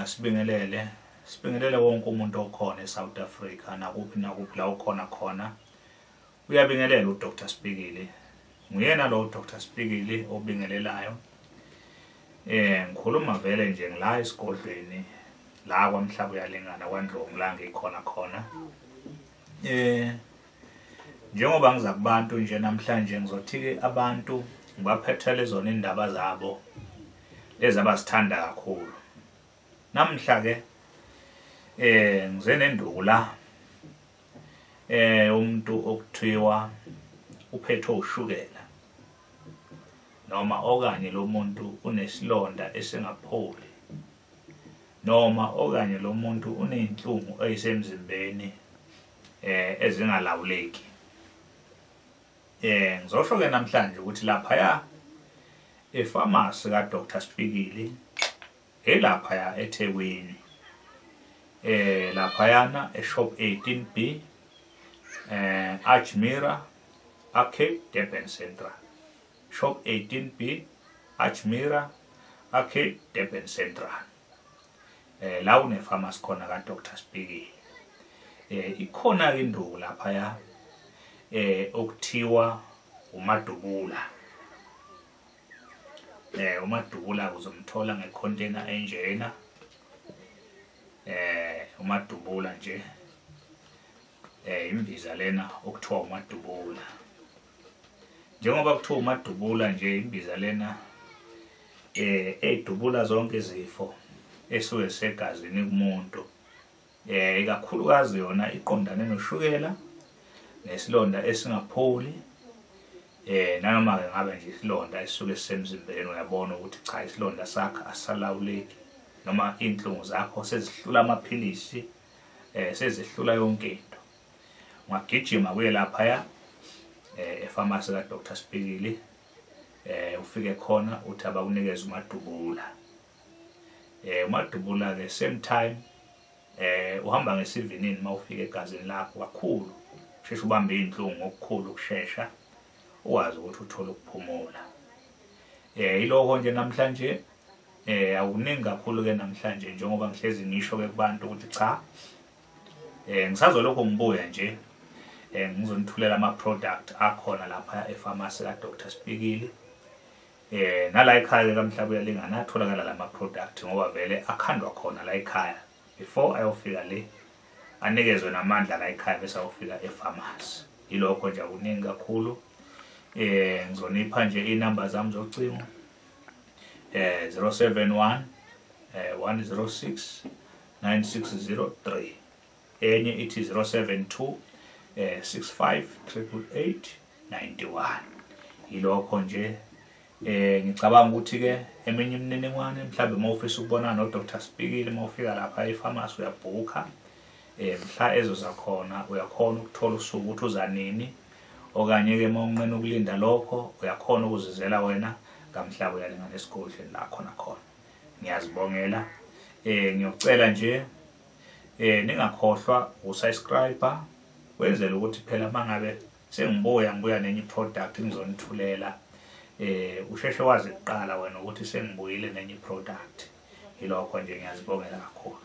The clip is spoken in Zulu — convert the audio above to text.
Sibingelele, sibingelele wonke umuntu okhona eSouth Africa nakuphi nakuphi la ukhona khona. Uyabingelela uDr Spikili. Nguyena lo uDr Spikili obingelelayo. Eh ngikhuluma vele nje ngila esigodlweni la kwamhlaba uyalingana kwaNdlovu la ngikhona khona. Eh njengoba ngiza kubantu nje namhlanje ngizothi-ke abantu ngibaphethele zona iy'ndaba zabo lezi abazithanda kakhulu namhla-ke eh ngize nenduku la eh umuntu okuthiwa uphethwe ushukela noma okanye lo muntu unesilonda esingapholi noma okanye lo muntu uney'nhlungu eyisemzimbeni eh ezingalawuleki eh ngizosho ke namhlanje ukuthi lapha ya efamasi ka Dr Spikili elapha ya eThekwini eh lapha yana eshop 18B eh Archmira Arcade Durban Central Shop 18B, Ajmira, Arcade, Durban Central. Eh la une pharmacy khona ka Dr Spiki. Eh ikhona ke induku lapha ya eh okuthiwa umadubula. Eh umadubula uzomthola ngecontainer enjena. Eh umadubula nje. Eh imbiza lena okuthiwa umadubula. njengoba kuthiwa umadubula nje imbiza lena eh edubula zonke izifo esuke segazini kumuntu eh ikakhulukazi yona iqondane noshukela nesilonda esingapholi eh nanoma ke ngabe nje isilonda esuke sisemzimbeni uyabona ukuthi cha isilonda sakhe asalawuleki noma inhlungu zakho sezihlula amaphilisi eh sezihlula yonke into ngagijima kuye laphaya eh, efamasi kadr spikili um ufike khona uthi abakunikeza umadubula um umadubula-ke same time um uhamba ngesivinini uma ufika egazini lakho kakhulu sheshe ubambe iy'nhlungu ngokukhulu ukushesha uwazi ukuthi uthole ukuphumula eh iloko nje namhlanje eh awuningi kakhulu ke namhlanje njengoba ngihlezi ngisho ke kubantu ukuthi cha eh ngisazolokho ngibuya nje eh ngizonithulela ama product akhona lapha e pharmacy ka Dr Spikili eh nala ekhaya ke kamhlaba uyalingana atholakala lama product ngoba vele akhandwa khona la ekhaya before ayofika le anikezwe namandla la ekhaya bese ayofika e pharmacy ilokho nje akuningi kakhulu eh ngizonipha nje inamba zami zocingo eh 071 eh 106 9603 enye ithi 072 eh 658891 yilokho nje eh ngicabanga ukuthi ke eminye imininingwane mhlawumbe uma ufisa ukubona no Dr Sibikile uma ufika lapha ePharmacy uyabhukha eh mhla ezoza khona uyakhona ukuthola usuku ukuthi uza nini okanye ke uma unqena ukulinda lokho uyakhona ukuzizela wena kamhlaba uyalinga nesigodlweni la khona khona ngiyazibongela eh ngiyocela nje eh ningakhohlwa ukusubscribe wenzela ukuthi phela mangabe sengibuya ngibuya nenye product ngizonithulela eh usheshe wazi kuqala wena ukuthi sengibuyile nenye product yilokho nje ngiyazibongela kakhulu